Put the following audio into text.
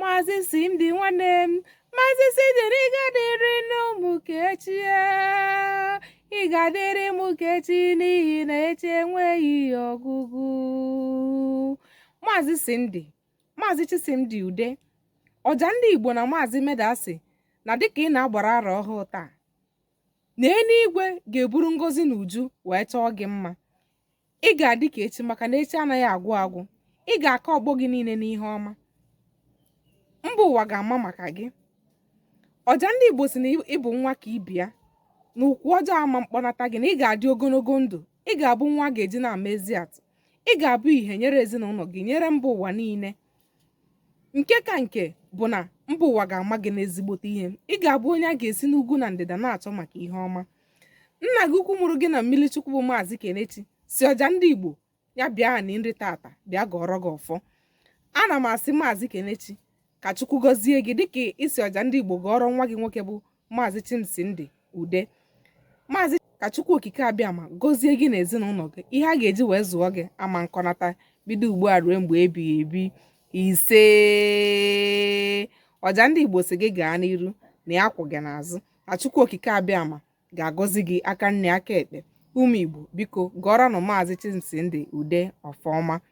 Maazị Simdi nwanne m Maazị Simdiri ị ga-adịrịnụ mụ ka echi ị ga-adịrị mụ ka echi n'ihi na echi enweghị ọgwụgwụ Maazị Simdi Maazị Chisimdi Ude ọja ndị Igbo na Maazị Meda sị na dịka ị na-agbara arọ ọhụụ taa na eluigwe ga-eburu ngọzi n'uju wee chọọ gị mma ị ga-adị ka echi maka na echi anaghị agwụ agwụ ị ga-aka ọgbọ gị niile n'ihe ọma mba ụwa ga-ama maka gị ọja ndị igbo sị na ị bụ nwa ka ibe ya na ụkwụ ọjọọ ama mkpọnata gị na ị ga-adị ogologo ndụ ị ga-abụ nwa a ga-eji na-ama ezi atụ ị ga-abụ ihe nyere ezinụlọ gị nyere mba ụwa niile nke ka nke bụ na mba ụwa ga-ama gị n'ezigbote ihe ị ga-abụ onye a ga-esi n'ugwu na ndịda na-achọ maka ihe ọma nna gị ukwu mụrụ gị na mmiri chukwu bụ maazị kenechi sị ọja ndị igbo ya bịa ha na nri tata bịa gọọrọ gị ọfọ ana m asị maazị kenechi ka chukwu gọzie gị dịka ị sị ọja ndị igbo gọọrọ nwa gị nwoke bụ Maazị Chimsimdi Ude Maazị ka Chukwu Okike Abịama gọzie gị na ezinụlọ gị ihe a ga-eji wee zụọ gị ama nkọnata bido ugbu a ruo mgbe ebighị ebi ise ọja ndị Igbo sị gị gaa n'iru na ya kwụ gị n'azụ na Chukwu Okike Abịama ga-agọzi gị aka nni aka ekpe ụmụ Igbo biko gọọrọnụ Maazị Chimsimdi Ude ọfọ ọma